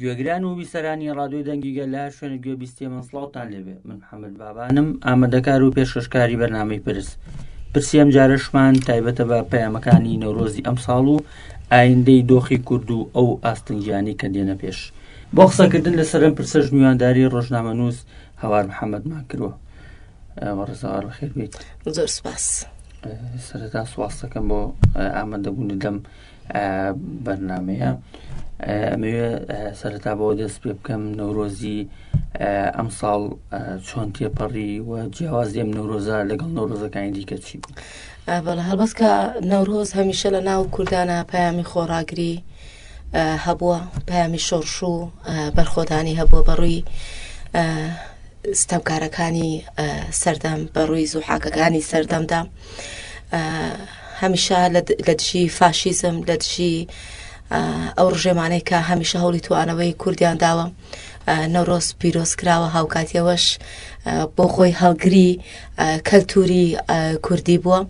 گوێگران و بیسەرانی ڕادوی دەنگیگە لە شوێن گوێ بیستێ من سڵاوتان لێبێ من محەممەد بابانم ئامادەکار و پێشکەشکاری بەرنمەی پرس پرسی ئەم جارشمان تایبەتە بە پەیامەکانی نەورۆزی ئەم ساڵ و ئایندەی دۆخی کورد و ئەو ئاستنگیانی کە دێنە پێش بۆ قسەکردن لەسەرم پرسەش میوانداری ڕۆژنامە نووس هەوار محەممەد مان کردوە ئەوە ڕزاوار بەخێر بێت زۆر سپاس سەردا سواستەکەم بۆ ئامادەبوونی دەم بەرنمەیە ئەمەوێ سەرتا بۆ دەست پێ بکەم نەورۆزی ئەم ساڵ چۆن تێپەڕی و جیاواز لێم نەورۆزە لەگەڵ نەورۆزەکانی دیکە چی بوو بەڵە هەڵبەت کە نەورۆز هەمیشە لە ناو کوردانە پەیامی خۆڕاگری هەبووە پەیامی شۆڕش و بەرخۆدانی هەبووە بەڕووی ستەمکارەکانی سەردەم بەڕووی زوحاکەکانی سەردەمدا هەمیشە لە دژی فاشیزم لە دژی ئەو ڕژێمانەی کە هەمیشە هەوڵی توانەوەی کوردیان داوە نەورۆز پیرۆز کراوە هاوکاتی ئەوەش بۆ خۆی هەڵگری کەلتوری کوردی بووە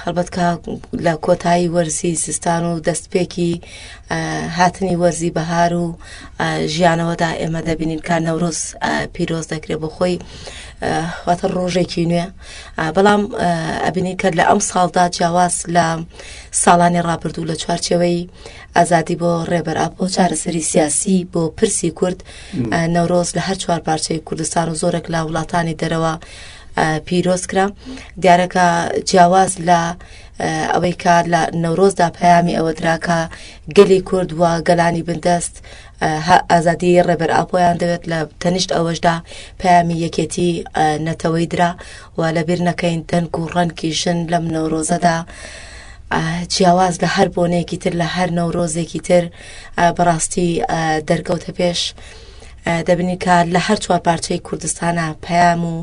هەڵبەت کە لە کۆتایی وەرزی زستان و دەستپێکی هاتنی وەرزی بەهار و ژیانەوەدا ئێمە دەبینین کە نەورۆز پیرۆز دەکرێت بۆ خۆی واتە ڕۆژێکی نوێ بەڵام ئەبینی کە لە ئەم ساڵدا جیاواز لە ساڵانی ڕابردوو لە چوارچەوەی ئازادی بۆ ڕێبەر ئاپۆ چارەسەری سیاسی بۆ پرسی کورد نەورۆز لە هەر چوار پارچەی کوردستان و زۆرێک لە وڵاتانی دەرەوە پیرۆز کرا دیارەکە جیاواز لە ئەوەی کار لە نەورۆزدا پەیامی ئەوە دراکە گەلی کورد و گەلانی بندەست ئازادی ڕێبەر ئاپۆیان دەوێت لە تەنیشت ئەوەشدا پەیامی یەکێتی نەتەوەی درا و لەبیر نەکەین دەنگ و ڕەنگی ژن لەم نەورۆزەدا جیاواز لە هەر بۆنەیەکی تر لە هەر نەورۆزێکی تر بەڕاستی دەرکەوتە پێش. دەبنی کە لە هەر چوار پارچەی کوردستانە پەیام و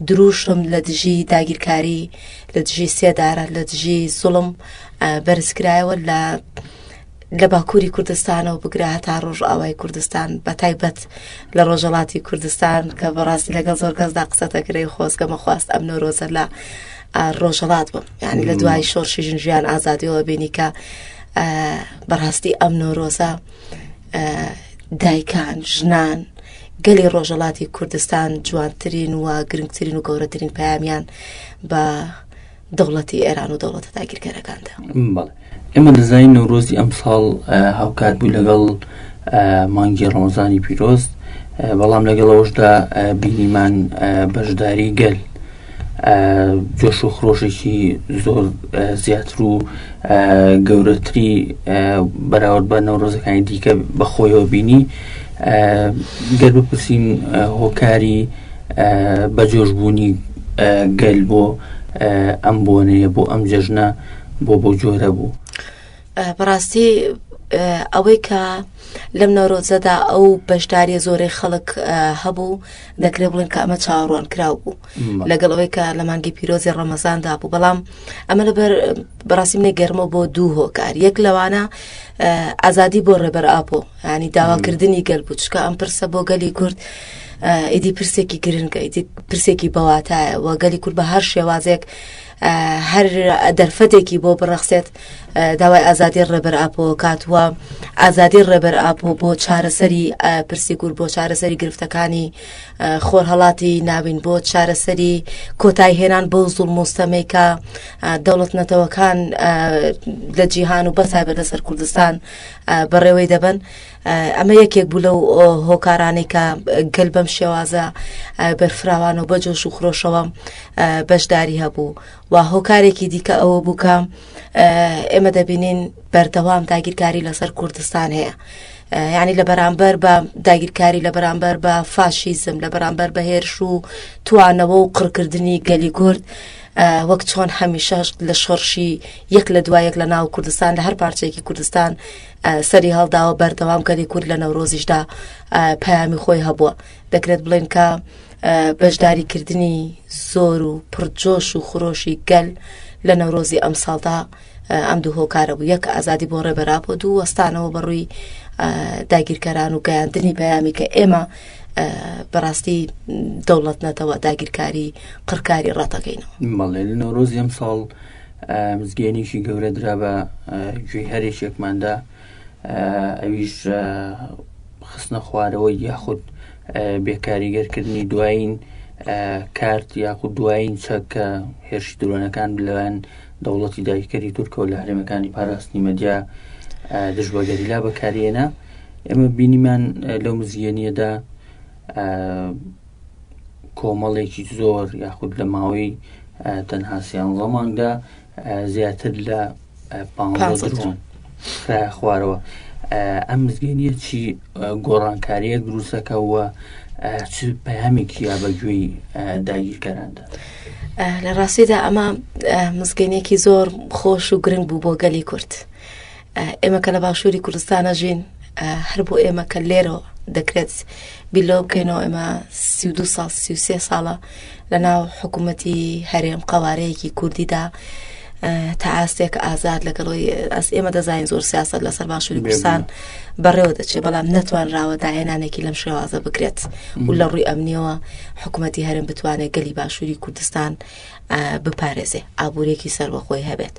دروشم لە دژی داگیرکاری لە دژی سێدارە لە دژی زوڵم بەرزکرایەوە لە لە باکووری کوردستانەوە بگرە هەتا ڕۆژئاوای کوردستان بە تایبەت لە ڕۆژەڵاتی کوردستان کە بەڕاستی لەگەڵ زۆر کەسدا قسە دەکرێ خۆزگە مەخواست ئەم نۆرۆزە لە ڕۆژەڵات بم یعنی لە دوای شۆرشی ژن ژیان ئازادیەوە بینی کە بەڕاستی ئەم نۆرۆزە دایکان ژنان گەلی ڕۆژەڵاتی کوردستان جوانترین و گرنگترین و گەورەترین پامیان بە دەوڵەتی ئێران و دەوڵەتە داگیرکەرەکاندا بەڵێ ئێمە دەزای نەورۆزی ئەم ساڵ هاوکات بوو لەگەڵ مانگی ڕۆزانی پیرۆست بەڵام لەگەڵەوەشدا بینیمان بەشداری گەل جۆش و خرۆشێکی زۆر زیاتر و گەورەتری بەراورد بە نەورۆزەکانی دیکە بەخۆیەوە بینی گەر بپرسین هۆکاری بەجۆش بوونی گەل بۆ ئەم بۆنەیە بۆ ئەم جەژنە بۆ بەو جۆرە بوو بەڕاستی ئەوەی کە لەم نەورۆزەدا ئەو بەشداری زۆرەی خەڵک هەبوو دەکرێ بڵێن کە ئەمە چاڕوان کراو بوو لەگەڵ ئەوەی کە لە مانگی پیرۆزی ڕەمەزاندا بوو بەڵام ئەمە لەبەر بەڕاستی منێ گەرمە بۆ دوو هۆکار یەک لەوانە ئازادی بۆ ڕێبەر ئاپۆ ینی داواکردنی گەل بوو چکە ئەم پرسە بۆ گەلی کورد ئیدی پرسێکی گرنگە ئیدی پرسێکی بەواتایە و گەلی کورد بە هەر شێوازێک هەر دەرفەتێکی بۆ بڕەخسێت داوای ئازادی ڕێبەر ئاپۆکات وە ئازادی ڕێبەر ئاپۆ بۆ چارەسەری پرسی گور بۆ چارەسەری گرفتەکانی خۆرهڵاتی ناوین بۆ چارەسەری کۆتای هێنان بۆ زوڵ مستەمیکە دەوڵەت نەتەوەکان لە جیهان و بەسای بەدەسەر کوردستان بەڕێوەی دەبەن، ئەمە یەکێک بوو لەو هۆکارانەی کە گەل بەم شێوازە بەرفراوان و بە جۆش و خرۆشەوە بەشداری هەبوو و هۆکارێکی دیکە ئەوە بوو کە ئێمە دەبینین بەردەوام داگیرکاری لەسەر کوردستان هەیە. یعنی لە بەرامبەر بە داگیرکاری لە بەرامبەر بە فاشیزم لە بەرامبەر بە هێرش و توانەوە و قڕکردنی گەلی کورد وەک چۆن هەمیشە لە شۆڕشی یەک لە دوای یەک لە ناو کوردستان لە هەر پارچێکی کوردستان سەری هەڵداوە بەردەوام کەری کورد لە نەورۆزیشدا پامی خۆی هەبووە دەکرێت بڵێن کە بەشداریکردنی زۆر و پڕجۆش و خرۆشی گەل لە نەورۆزی ئەم ساڵدا ئەم دوو هۆکارە بوو یەک ئازادی بۆ ڕێبەرا بۆ دوو وەستانەوە بەڕووی داگیرکەران و گەیاندنی پەیامی کە ئێمە بەڕاستی دەوڵەت نەتەوە داگیرکاری قڕکاری ڕاتەکەینەوە مەڵێ لە نەورۆز ئەم ساڵ مزگەێنێکی گەورە درا بە گوێ هەرێکێکماندا ئەویش خستنە خوارەوە یاخود بێکاریگەرکردنی دوایین کارت یاخود دوایین چەکە هێرش درۆنەکان لەوان دەوڵەتی داگیرکەری تورکەوە لە هەرێمەکانی پاراستنی مەدیا دژ بە گەریلا بەکارێنە ئێمە بینیمان لەو مزیێنیەدا کۆمەڵێکی زۆر یاخود لە ماوەی تەنها سیان ڕۆماندا زیاتر لە پاڵۆن خرایە خوارەوە ئەم مزگەنیە چی گۆڕانکاریە دروستەکەەوە چ پەیامێکی یا بەگوێی داگیرکەراندا. لە ڕاستیدا ئەمە مزگەنێکی زۆر خۆش و گرنگ بوو بۆ گەلی کورد. ئێمە کە لە باشووری کوردستانە ژین هەر بۆ ئێمە کە لێرەوە دەکرێت بیلۆ بکەینەوە ئێمە سی دو سال سی سێ ساڵە لەناو حکوومەتی هەرێم قەوارەیەکی کوردیدا تا ئاستێک ئازاد لەگەڵەوەی ئەس ئێمە دەزانین زۆر سیاست لەسەر باشووری کوردستان بەڕێوە دەچێت بەڵام نەتوانراوە داهێنانێکی لەم شێوازە بکرێت و لە ڕووی ئەمنیەوە حکوومەتی هەرم بتوانێت گەلی باشووری کوردستان بپارێزێ ئابوورێکی سەربەخۆی هەبێت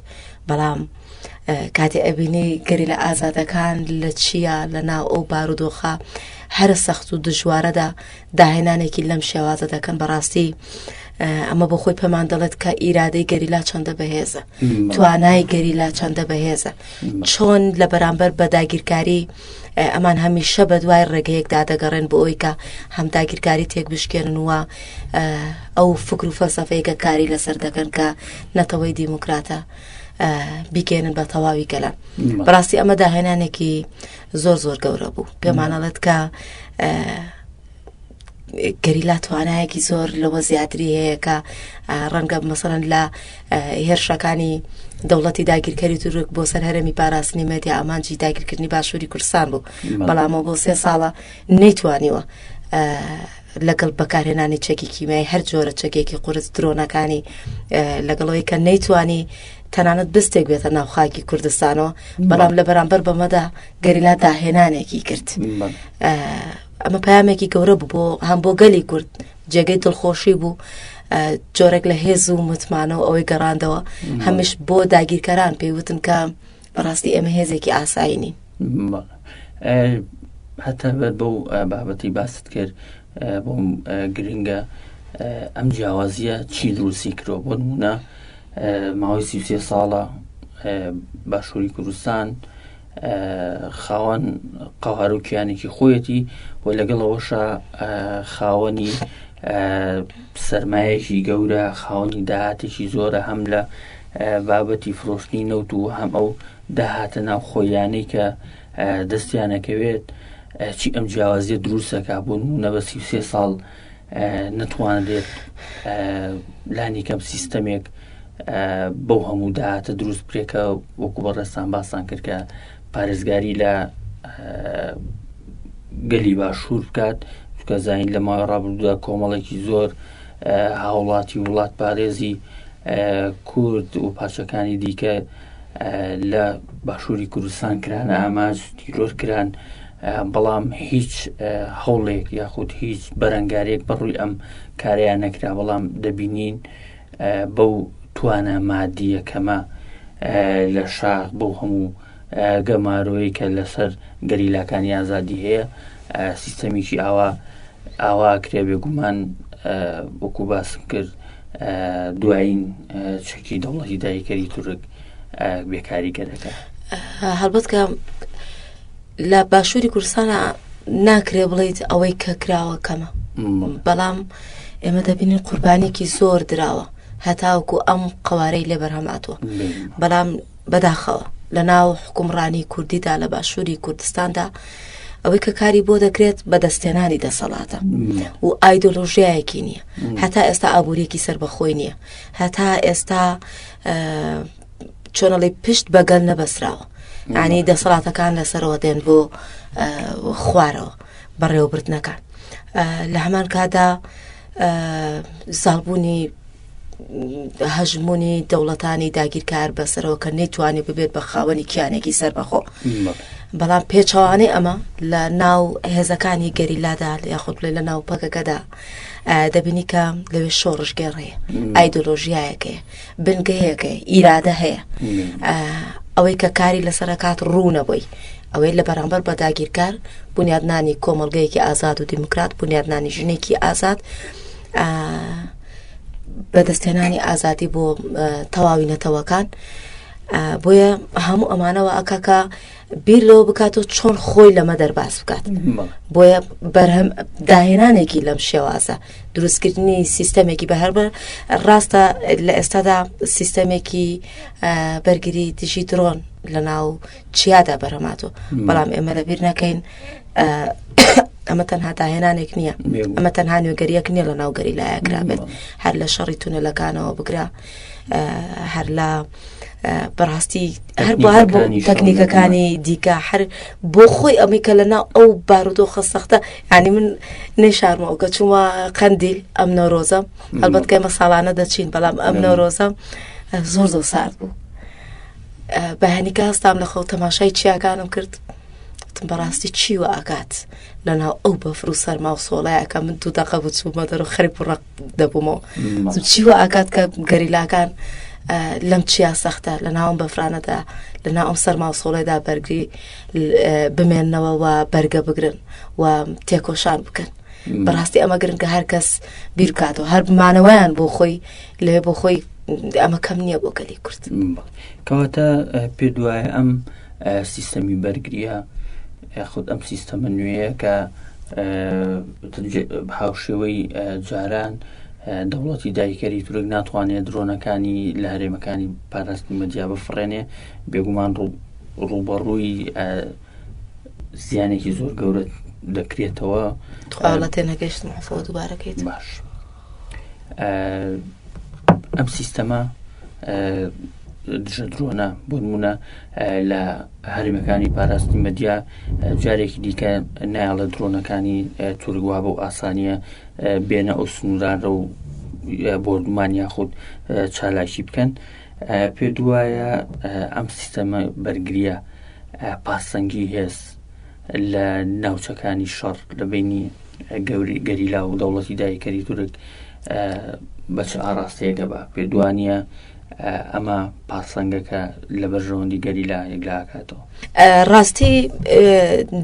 بەڵام کاتێ ئەبینی گەری لە ئازادەکان لە چییە لە ناو ئەو بارودۆخە هەرە سەخت و دژوارەدا داهێنانێکی لەم شێوازە دەکەن بەڕاستی ئەمە بۆ خۆی پێمان دەڵێت کە ئیرادەی گەریلا چەندە بەهێزە توانای گەریلا چەندە بەهێزە چۆن لە بەرامبەر بە داگیرکاری ئەمان هەمیشە بە دوای ڕێگەیەکدا دەگەڕێن بۆ ئەوی کە هەم داگیرکاری تێک بشکێنن وە ئەو فکر و فەلسەفەیەکە کاری لەسەر دەکەن کە نەتەوەی دیموکراتە بیگەێنن بە تەواوی گەلان بەڕاستی ئەمە داهێنانێکی زۆر زۆر گەورە بوو پێمانەڵێت کە گەریلا توانایەکی زۆر لەوە زیاتری هەیە کە ڕەنگە مەسەرەن لە هێرشەکانی دەوڵەتی داگیرکەری تورک بۆ سەر هەرمی پاراستنی مەدیا ئامانجی داگیرکردنی باشووری کوردستان بوو بەڵامەوە بۆ سێ ساڵە نەیتوانیوە لەگەڵ بەکارهێنانی چەکی کیمیای هەر جۆرە چەکێکی قرس درۆنەکانی لەگەڵەوەی کە نەیتوانی تەنانەت بستێک بێتە ناو خاکی کوردستانەوە بەڵام لە بەرامبەر بەمەدا گەریلا داهێنانێکی کرد ئەمە پامێکی گەورە بوو بۆ هەم بۆ گەلی کورد جێگەی دڵخۆشی بوو جۆرێک لە هێز و متمانە و ئەوەی گەڕاندەوە هەمیش بۆ داگیرکەران پێیوتن کە بەڕاستی ئێمە هێزێکی ئاسایینی هەتا بەر بەو بابەتی باست کرد بۆم گرنگە ئەم جیاوازیە چی دروستی کرۆ بۆ نمونە ماوەی سیسێ ساڵە باشووری کوردستان خاوەن قەوار و کیانێکی خۆیەتی و لەگەڵەوەشە خاوەنی سرمایەکی گەورە خاوەنی داهاتێکی زۆرە هەم لە بابەتی فرۆشتنی نەوت و هەم ئەو داهاتە ناوخۆیانەی کە دەستیانەکەوێت چی ئەم جیاوازیە دروستەکە بۆ نمونە بە سی سێ ساڵ نتوانرێت لانی کەم سیستەمێک بەو هەموو داهاتە دروست بکرێکە وەکو بەڕێستان باسان کرد کە پارێزگاری لە گەلی باشوور بکات چکە زین لە ماوە ڕابردودا کۆمەڵێکی زۆر هاوڵاتی وڵات پارێزی کورد و پارچەکانی دیکە لە باشووری کوردستان کران ئاماج تیرۆر کران بەڵام هیچ هەوڵێک یاخود هیچ بەرەنگارێک بەڕووی ئەم کاریان نەکرا بەڵام دەبینین بەو توانە مادیە کەمە لە شاخ بۆ هەموو گەمارۆیکە لەسەر گەریلاکانی ئازادی هەیە سیستەمیکی ئاوا ئاوا ئەکرێ بێگومان وەکو باسم کرد دوایین چەکی دەوڵەتی دایکەری تورک بێکاریگەرەکە هەڵبەت کە لە باشووری کوردستانە ناکرێ بڵیت ئەوەی کە کراوە کەمە بەڵام ئێمە دەبینین قوربانێکی زۆر دراوە هەتاوکو ئەم قوارەی لێ بەرهەماتوە بەڵام بەداخەوە لە ناو حکومڕانی کوردیدا لە باشووری کوردستاندا ئەوەی کە کاری بۆ دەکرێت بە دەستێنانی دەسەڵاتە و ئایدۆلۆژیایەکی نییە هەتا ئێستا ئابوووریەکی سەر بەخۆی نییە هەتا ئێستا چۆنەڵی پشت بەگەل نەبەسراوە ئانی دەسەڵاتەکان لەسەرەوە دێن بۆ خوارەوە بەڕێوەبردنەکان لە هەمان کادا زالبوونی هەژموونی دەوڵەتانی داگیرکار بەسەرەوە کە نەیتوانێ ببێت بە خاوەنی کیانێکی سەربەخۆ بەڵام پێچەوانەی ئەمە لە ناو هێزەکانی گەریلادا یاخود بڵێ لە ناو پەکەکەدا دەبینی کە لەوێ شۆڕشگەڕێ ئایدۆلۆژیایەکەی بنگەیەکەی ئیرادە هەیە ئەوەی کە کاری لەسەرکات ڕوونە بووی ئەوەی لە بەرامبەر بە داگیرکار بنیادنانی کۆمەلگەیەکی ئازاد و دیموکرات بنیادنانی ژنێکی ئازاد بەدەستهێنانی ئازادی بۆ تەواوی نەتەوەکان بۆیە هەموو ئەمانەوە ئەکاکە بیر لەوە بکات و چۆن خۆی لەمە دەرباز بکات بۆیە بەرهەم داهێنانێکی لەم شێوازە دروستکردنی سیستەمێکی بە هەر ڕاستە لە ئێستادا سیستەمێکی بەرگری دژی درۆن لە ناو چیادا بەرەماتۆ بەڵام ئێمە لەبیر نەکەین ئەمە تەنها داهێنانێک نییە ئەمە تەنها نوێگەریەک نییە لە ناوگەری لایەکرا بێت هەر لە شەڕی تونەلەکانەوە بگرە هەر لە بەڕاستی هەر بۆ هەر بۆ تەکنیکەکانی دیکە هەر بۆ خۆی ئەمەی کە لە ناو ئەو بارودۆخە سەختە ینی من نێشارمەوە کە چوومە قەندیل ئەم نەورۆزە هەڵبەت کەمە ساڵانە دەچین بەڵام ئەم نەورۆزە زۆر زۆر سارد بوو. بە هەنیکە هەستام لە خەو تەماشای چیاکانم کرد وتم بەڕاستی چی و ئاکات لە ناو ئەو بەفر و سەرما و سۆڵایەکە من دوو دەقە بوو چوومە دەرو خەریب و ڕق دەبوومەوە چی و ئاکات کە گەریلاکان لەم چیا سەختە لە ناوم بەفرانەدا لە ناوم سەرما و سۆڵێدا بەرگری بمێنەوە و بەرگە بگرن و تێکۆشان بکەن بەڕاستی ئەمە گرنگە هەر کەس بیرکاتەوە هەر بمانەوەیان بۆ خۆی لەوێ بۆ خۆی ئەمە کەم نییە بۆ گەلی کورد کەواتە پێ دوایە ئەم سیستەمی بەرگریە خود ئەم سیستەمە نوێیە کە هاوشێوەی جاران دەوڵەتی دایکەری تورک ناتوانێت درۆنەکانی لە هەرێمەکانی پاراستنی مەدیا بفرێنێ بێگومان ڕوبەڕووی زیانێکی زۆر گەورە دەکرێتەوە تێنەگەشت دووبارەکەیت باش. ئەم سیستەمە دژە درۆنە بۆنمونە لە هەرمەکانی پاراستنی مەدیا جارێکی دیکە نایڵە درۆنەکانی تورگوا بۆ ئاسانیە بێنە ئەو سنوورانە و بۆردمان یاخود چالاکی بکەن پێ دوایە ئەم سیستەمە بەرگریە پاسەنگی هێز لە ناوچەکانی شەڕ لە بینی گەوری گەریلا و دەوڵەتی دایکەری تورک بە چ ئاراستەیەگە بە پێدوانە ئەمە پاسەنگەکە لە بەرژەوەندی گەریلا یەکلاکاتەوە ڕاستی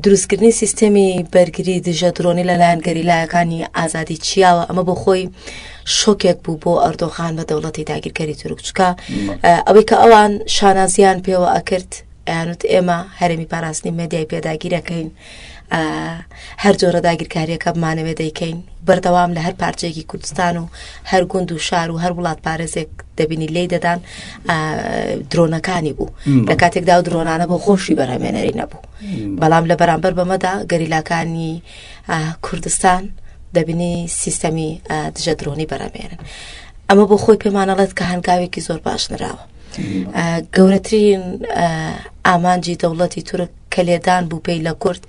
دروستکردنی سیستەمی بەرگری دژە درۆنی لەلایەن گەریلایەکانی ئازادی چیاوە ئەمە بۆ خۆی شۆکێک بوو بۆ ئەردۆخان بە دەوڵەتی داگیرکەری تورکچکە ئەوەی کە ئەوان شانازیان پێوە ئەکرد ئەیانوت ئێمە هەرێمی پاراستنی مەدیای پێداگیرەکەین هەر جۆرە داگیرکاریەکە بمانەوێ دەیکەین بەردەوام لە هەر پارچێکی کوردستان و هەر گوند و شار و هەر وڵات پارێزێک دەبینی لی دەدان درۆنەکانی بوو لە کاتێکدا و درۆنانە بۆ خۆشی بەرهمێنەری نەبوو بەڵام لە بەرامبەر بەمەدا گەریلاکانی کوردستان دەبینی سیستەمی دژە درۆنی بەرەمێنن ئەمە بۆ خۆی پێمانەڵێت کە هەنگاوێکی زۆر باش نراوە گەورەترین ئامانجی دەوڵەتی تورک کە لێدان بوو پێی لە کورد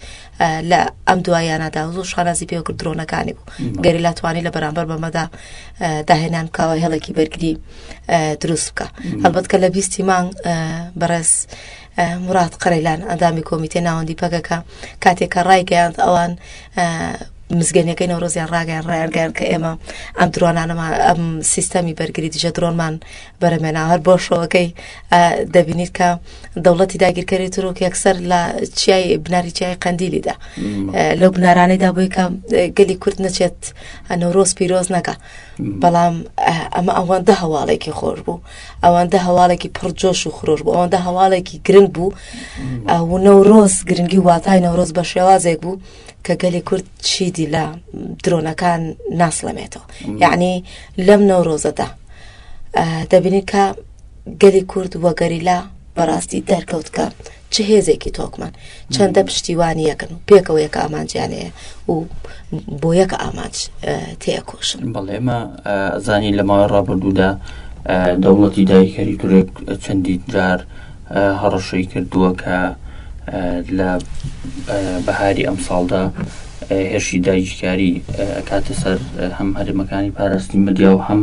لە ئەم دوایانەدا و زۆر شانازی پێ کرد درۆنەکانی بوو گەری لاتوانی لە بەرامبەر بەمەدا داهێنان کاوە هێڵێکی بەرگری دروست بکە هەڵبەت کە لە بیستی مانگ بەڕێز موراد قەرەیلان، ئەندامی کۆمیتەی ناوەندی پەکەکە، کاتێک کە ڕایگەیاند ئەوان مزگەنیەکەی نەورۆزیان ڕاگەیان ڕایانگەیان کە ئێمە ئەم درۆنانەمان ئەم سیستەمی بەرگری دژە درۆنمان بەرەمێنا هەر بۆ شەوەکەی دەبینیت کە دەوڵەتی داگیرکەری ترۆک یەکسەر لە چیای بناری چیای قەندیلیدا لەو بنارانەیدا بۆی کە گەلی کورد نەچێت نەورۆز پیرۆز نەکە بەڵام ئەمە ئەوەندە هەواڵێکی خۆش بوو ئەوەندە هەواڵێکی پڕ جۆش و خرۆش بوو ئەوەندە هەواڵێکی گرنگ بوو و نەورۆز گرنگی واتای نەورۆز بە شێوازێک بوو کە گەلی کورد چیدی لە درۆنەکان ناسڵەمێتەوە یعنی لەم نەورۆزەدا دەبینی کە گەلی کورد و گەریلا بەڕاستی دەرکەوت کە چ هێزێکی تۆکمان چەندە پشتیوانی یەکن و پێکەوە یەکە ئامانجیانەیە و بۆ یەکە ئامانج تێکۆشن بەڵێمە زانی لە ماوەی ڕابردوودا دەوڵەتی دایکەری تورێک چەندی جار هەڕەشەی کردووە کە لە بەهاری ئەم ساڵدا هێرشی دایکاری کاتە سەر هەم هەرمەکانی پاراستنی مدیا و هەم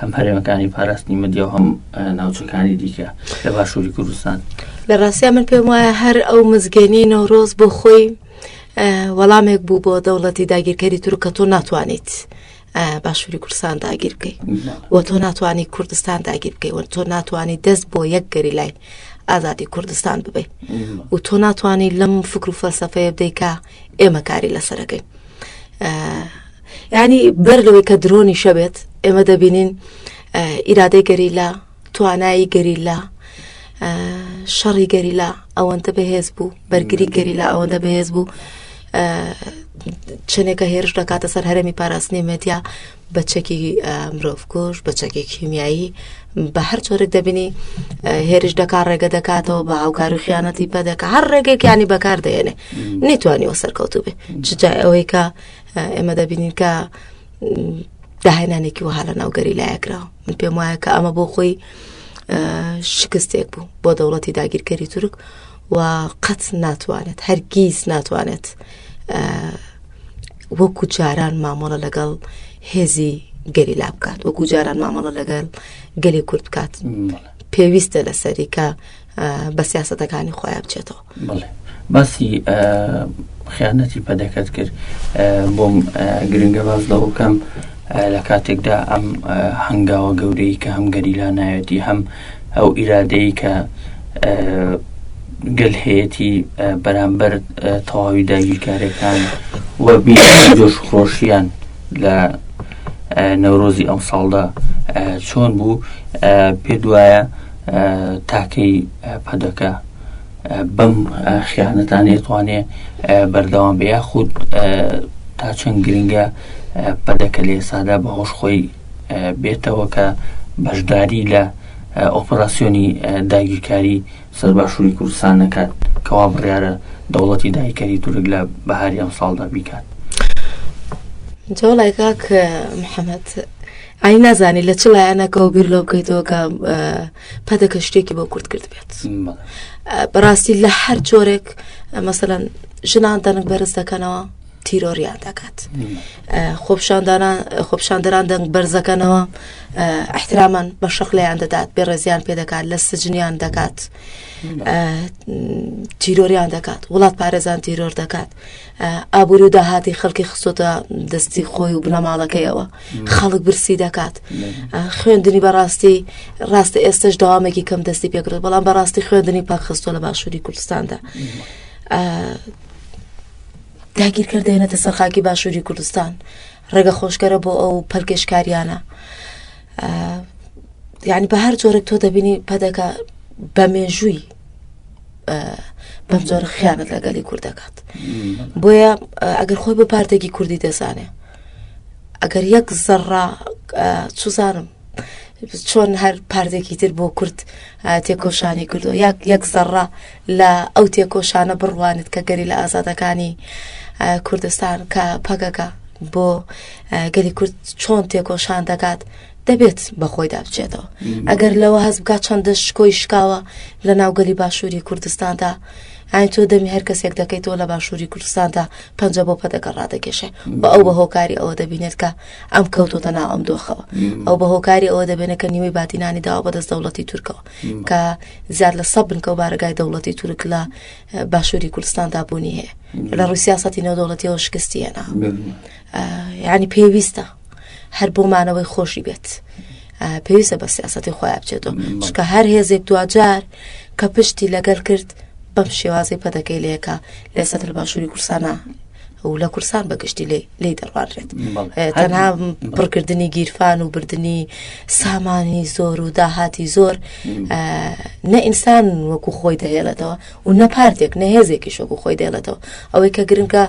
هەم هەرێمەکانی پاراستنی مدیا و هەم ناوچەکانی دیکە لە باشووری کوردستان لە ڕاستیا من پێم وایە هەر ئەو مزگەنی نەورۆز بۆ خۆی وەڵامێک بوو بۆ دەوڵەتی داگیرکەری تورکە تۆ ناتوانیت باشووری کوردستان داگیر بکەیت و تۆ ناتوانانی کوردستان داگیر بکەیت و تۆ ناتوانانی دەست بۆ یەک گەری لای ئازادی کوردستان ببیت و تۆ ناتوانانی لەم فکر و فەلسفەیە بدەیکە ئێمە کاری لەسەرەکەی ینی بەر لەوەی کە درۆنی شەبێت ئێمە دەبینین ئیرادەی گەریلا توانایی گەریلا شەڕی گەریلا ئەوەندە بەهێز بوو بەرگری گەریلا ئەوەندە بەهێز بوو چنێکە هێرش دەکاتە سەر هەرمی پاراستنی مەدیا بە چەکی مرۆڤکوژ بە چەکی کیمیایی بە هەر چۆرێک دەبینی هێرش دەکات ڕێگە دەکاتەوە بە هاوکار و خیانەتی پە دەکە هەر ڕێگەکانی بەکار دێنێ نەیتوانیەوە سەرکەوتو بێ چجا ئەوەی کە ئێمە دەبینین کە داهێنانێکی وها لە ناوگەری لایەکراوە من پێم وایە کە ئەمە بۆ خۆی شکستێک بوو بۆ دەوڵەتی داگیرکەری تورک و قەت ناتوانێت هەرگیز ناتوانێت وەکو جاران مامەڵە لەگەڵ هێزی گەریلا بکات وەکو جاران مامەڵە لەگەڵ گەلی کورد بکات پێویستە لەسەری کە بە سیاستەکانی خۆیان بچێتەوە باسی خیانەتی پەدەکەت کرد بۆم گرنگە باز لەوە بکەم لە کاتێکدا ئەم هەنگاوە گەورەی کە هەم گەریلا نایەتی هەم ئەو ئیرادەیە کە گەل هەیەی بەرامبەر تەواوی داگیرکارەکان و جۆش خۆشیان لە نەورۆزی ئەم ساڵدا چۆن بوو پێ دوایە تاکەی پەدەکە بەم خیانەتانێ توانێ بەردەوام بە یاخود تا چەند گرنگە پەدەکە لێ سادا بە هۆش خۆی بێتەوە کە بەشداری لە ئۆپەراسیۆنی داگیرکاری سەر باشووری کوردستان نەکات کەوا بڕیارە دەوڵەتی دایکەری تورک لە بەهاری ئەم ساڵدا بیکات جۆڵای کاک محەممەد ئای نازانی لە چ لایەنەکە و بیر لۆ بکەیتەوە کە پەدەکە شتێکی بۆ کورد کرد بێت بەڕاستی لە هەر جۆرێک مەسەەن ژنان دەنگ بەرز دەکەنەوە تیرۆریان دەکات خۆپشاندەران دەنگ بەرزەکەنەوە احترامان بە شەخلیان دەدات بێ ڕێزیان پێ دەکات لە سجنیان دەکات تیرۆریان دەکات وڵات پارێزان تیرۆر دەکات ئابووری و داهاتی خەڵکی خستۆتە دەستی خۆی و بنەماڵەکەیەوە خەڵک برسی دەکات خوێندنی بەڕاستی ڕاستە ئێستش داوامێکی کەم دەستی پێکرد بەڵام بەڕاستی خوێندنی پاکخستۆ لە باشووری کوردستاندا داگیرکەر دێنێتە سەر خاکی باشووری کوردستان ڕێگە خۆشگەرە بۆ ئەو پەلکێشکاریانە یعنی بە هەر جۆرێک تۆ دەبینی پەدەکە بە مێژووی بەم جۆرە خیانەت لەگەلی کورد دەکات بۆیە ئەگەر خۆی بە پارتێکی کوردی دەزانێ ئەگەر یەک زەڕا چزانم چۆن هەر پارتێکی تر بۆ کورد تێکۆشانی کردو یاک یەک زەڕە لە ئەو تێکۆشانە بڕوانت کە گەری لە ئازادەکانی کوردستان کە پەکەکە بۆ گەلی کورد چۆن تێکۆشان دەکات دەبێت بەخۆیدا بچێتەوە ئەگەر لەوە هەست بکات چەندە شکۆی شکاوە لە ناوگەلی باشووری کوردستاندا ئاین تۆ دەمی هەر کەسێک دەکەیتەوە لە باشووری کوردستاندا پەنج بۆ پەدەکە ڕادەکێشێ بە ئەو بە هۆکاری ئەوە دەبینێت کە ئەم کەوتۆتە ناو ئەم دۆخەوە ئەو بە هۆکاری ئەوە دەبێنە کە نیوەی بادینانی داوا بەدەست دەوڵەتی تورکەوە کە زیاد لە سە بنکە و بارگای دەوڵەتی تورک لە باشووری کوردستاندا بوونی هەیە لە ڕوسیاسەتی نێودەوڵەتیەوە شکستی هێنا یعنی پێویستە هەر بۆمانەوەی خۆشی بێت پێویستە بە سیاستی خۆیان بچێتەوە چکە هەر هێزێک دواجار کە پشتی لەگەل کرد بەم شێوازی پەدەکەی لەکە لە سەتر باشووری کورسانە و لە کورسان بەگشتی لێ لی دەڕوانرێت تەنها پڕکردنی گیرفان و بردننی سامانی زۆر و داهاتی زۆر نە ئینسان وەکو خۆی دەهێڵێتەوە و نە پارتێک نە هێزێکی شۆکو خۆی دێڵێتەوە ئەوەی کە گرنگە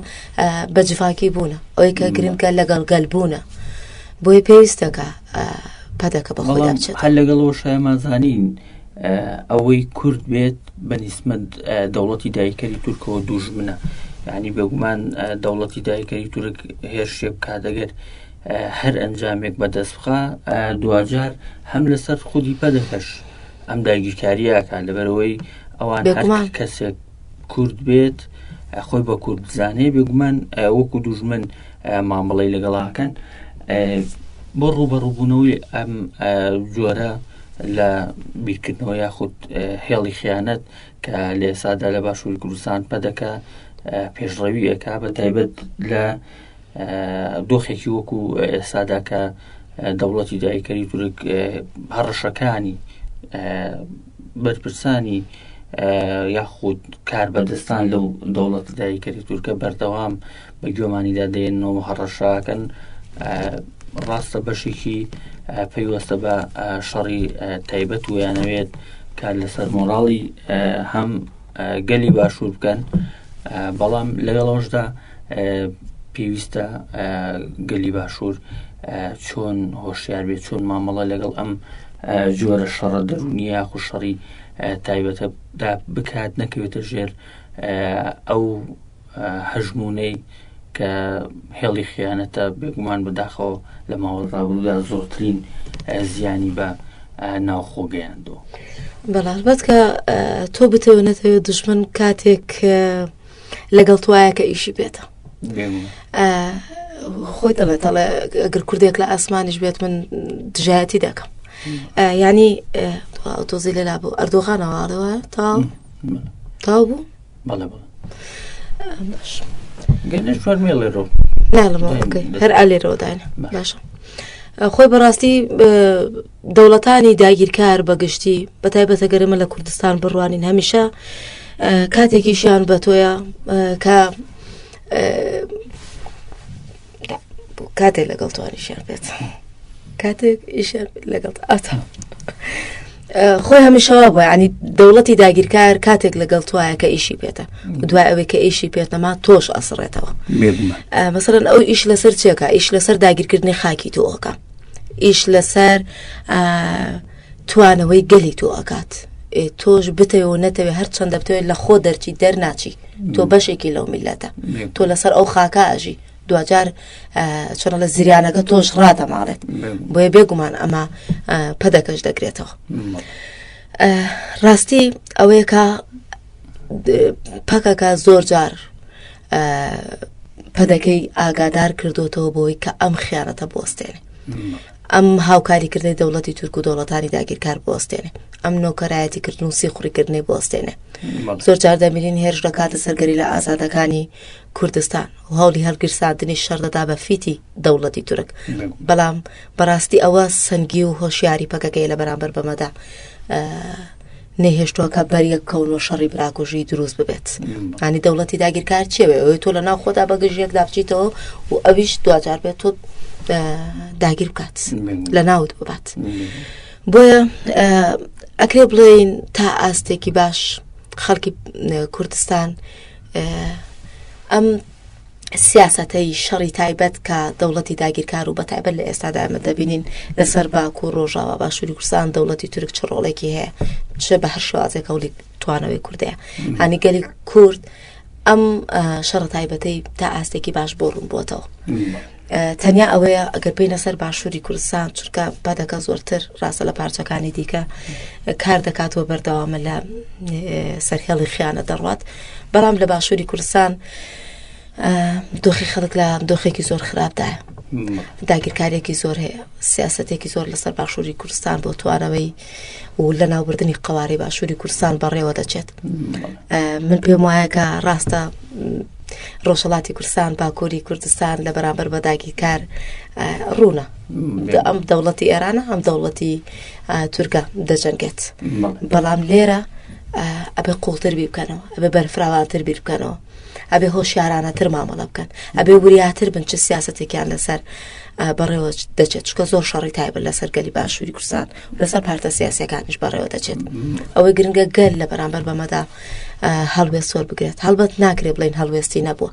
بە جڤاکی بوونە ئەوەی کە گرنگە لەگەڵ گەل بوونە بۆی پێویستەکە پەدەکە بەڵام هەر لەگەڵەوە شایمانزانین ئەوەی کورد بێت بە نیسمەت دەوڵەتی دایکەری تورکەوە دوژمنە یعنی بێگومان دەوڵەتی دایکەری تورک هێرشێ بکا دەگەر هەر ئەنجامێک بەدەست بخە دوجار هەم لەسەر خودی پەدەکەش ئەم داگیرکاریەکە لەبەرەوەی ئەوان کەسێک کورد بێت خۆی بە کورد بزانێ بێگومان وەکو دوژمن مامەڵی لەگەڵاکەن بۆ ڕوبەڕوبوونەوەی ئەم جۆرە لە بیرکردنەوە یاخود هێڵی خیانەت کە لە ئێسادا لە باشووری کوردستان پەدەکە پێشڕەویەکە بە تایبەت لە دۆخێکی وەکو ئێسادا کە دەوڵەتی دایکەری تورک هەڕەشەکانی بەرپرسانی یاخود کار بەدەستان لەو دەوڵەت دایکەری تورکە بەردەوام بە گوێمانیدا دێنن و هەڕەشەکەن ڕاستە بەشێکی پەیوەستە بە شەڕی تایبەت ویانەوێت کار لەسەر مۆراڵی هەم گەلی باشوور بکەن بەڵام لەگەڵەوەشدا پێویستە گەلی باشوور چۆن هۆشیار بێت چۆن مامەڵە لەگەڵ ئەم جۆرە شەڕە دەرونی یاخو شەڕی تایبەتەدا بکات نەکەوێتە ژێر ئەو هەژموونەی کە هێڵی خیانەتە بێگومان بەداخەوە لە ماوە ڕابرودا زۆرترین زیانی بە ناوخۆ گەیاندەوە بەڵبەت کە تۆ بتەوە نەتەوە دژمن کاتێک لەگەڵ توایە کە ئیشی بێتە خۆی دەڵێت دەڵێ ئەگەر کوردێک لە ئاسمانیش بێت من دژایەتی دەکەم ینی ئۆتۆزی لەلا بوو ئەردۆغانەوەڵەوە تا تاو بوو بەڵێ بەڵێ باش گەنێش فەرمێ لێرۆ هەر ئالێرەوەدان باشە خۆی بەڕاستی دەوڵەتانی داگیرکار بەگشتی بە تایبەتە گەرمە لە کوردستان بڕوانین هەمیشە کاتێکیشیان بە تۆیە کە کاتێک لەگەڵ توانیشیان بێت کاتێک ئیشیان لەگەڵ ئاتا خۆی هەمیشەوا بۆ ینی دەوڵەتی داگیرکار کاتێک لەگەڵ توایە کە ئیشی پێێتە دوای ئەوەی کە ئیشی پێێتەما تۆش ئەسڕێتەوە مەسەرەن ئەو ئیش لەسەر چێکە ئیش لەسەر داگیرکردنی خاکی تۆکە ئیش لەسەر توانەوەی گەلی تۆ ئەکات ئێ تۆش بتەوێ و نەتەوێ هەر چەندە بتەوێت لە خۆ دەرچی دەرناچی تۆ بەشێکی لەو میلەتە تۆ لەسەر ئەو خاکە ئەژی دوجار چۆن لە زریانەکە تۆش ڕادەماڵێت بۆیە بێگومان ئەمە پەدەکەش دەگرێتەوە ڕاستی ئەوەیە کە پەکەکە زۆر جار پەدەکەی ئاگادار کردوتەوە بۆی کە ئەم خیانەتە بۆستێنێ ئەم هاوکاریکردنەی دەوڵەتی تورک و دەوڵەتانی داگیرکار بوەستێنێ ئەم نۆکەرایەتی کردن و سیخوڕیکردنەی بوەستێنێ زۆر جار دەبینین هێرش دەکاتە سەرگەری لە ئازادەکانی کوردستان و هەولی هەڵگیرساندنی شەردەدا بە فیتی دەوڵەتی تورک بەڵام بەڕاستی ئەوە سەنگی و هۆشیاری پەکەکەی لە بەرامبەر بەمەدا نەیهێشتووە کە بەریەک کەون و شەڕی براکوژی دروست ببێت ئەنی دەوڵەتی داگیرکار چێوێ ئەوەی تۆ لە ناو خۆدا بەگژیەک دابچیتەوە و ئەویش دواجار بێت تۆ داگیر بکات لە ناوت ببات بۆیە ئەکرێ بڵێین تا ئاستێکی باش خەڵکی کوردستان ئەم سیاسەتەی شەڕی تایبەت کە دەوڵەتی داگیرکار و بەتایبەت لە ئێستادا ئەمە دەبینین لەسەر باکو و ڕۆژاوا باشووری کوردستان دەوڵەتی تورک چ ڕۆڵێکی هەیە چ بە هەر شوازێک هەوڵی توانەوەی کوردەیە هەنی گەلی کورد ئەم شەڕ تایبەتەی تا ئاستێکی باش بۆ ڕوون بووتەوە تەنیا ئەوەیە ئەگەر بینە سەر باشووری کوردستان چونکە بەدەکە زۆرتر ڕاستە لە پارچەکانی دیکە کار دەکات و بەردەوامە لە سەرهێڵی خیانە دەڕات بەڵام لە باشووری کوردستان دۆخی خەڵک لە دۆخێکی زۆر خراپدایە داگیرکارێکی زۆر هەیە سیاستێکی زۆر لەسەر باشووری کوردستان بۆ توارەوەی و لە ناوبردننی قوارەی باشووری کوردستان بەڕێوە دەچێت من پێم وایە کە ڕاستە ڕۆژهڵاتی کوردستان باکووری کوردستان لە بەرامبەر بەداگی کار ڕوونە ئەم دەوڵەتی ئێرانە ئەم دەوڵەتی تورکە دەجەنگێت بەڵام لێرە ئەبێ قوڵتر بی بکەنەوە ئەبێ بەرفراوانتر بیر بکەنەوە ئەبێ هۆشیارانەتر مامەڵە بکەن ئەبێ وریاتر بن چ سیاستێکیان لەسەر بەڕێوە دەچێت چکە زۆر شەڕی تایبەت لەسەر گەلی باشووری کوردستان لەسەر پارتە سیاسەکانیش بەڕێوە دەچێت ئەوەی گرنگە گەل لە بەرامبەر بەمەدا هەڵوێست سۆر بگرێت هەڵبەت ناکرێت بڵین هەڵوێستی نەبووە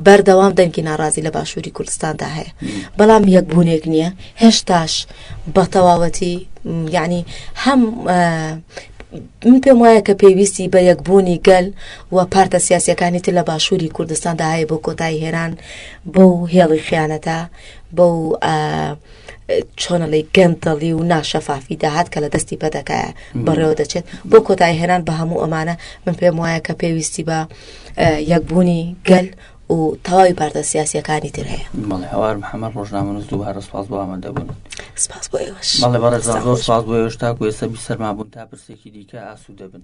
بەردەوام دەنگی ناڕازی لە باشووری کوردستاندا هەیە بەڵام یەکبوونێک نییە هێشتاش بە تەواوەتی یعنی هەم من پێم وایە کە پێویستی بە یەکبوونی گەل و پارتە سیاسەکانی تر لە باشووری کوردستاندا هەیە بۆ کۆتایی هێران بۆ هێڵی خیانەتە بۆ چۆنەڵی گەندەڵی و ناشەفافی داهات کە لە دەستی پەدەکایە بەڕێوە دەچێت بۆ کۆتای هێنان بە هەموو ئەمانە من پێم وایە کە پێویستی بە یەکبوونی گەل و تەواوی پارتە سیاسیەکانی تر هەیە مەڵێ هەوار محەمە ڕۆژنامە نووس دووبارە سپاس بۆ ئامادە بوون سپاس بۆ ئێوەش مەڵێ بەڕێزان زۆر سپاس بۆ ئێوەش تاکو ئێستا بی سەرما بوون تا پرسێکی دیکە ئاسوودە بن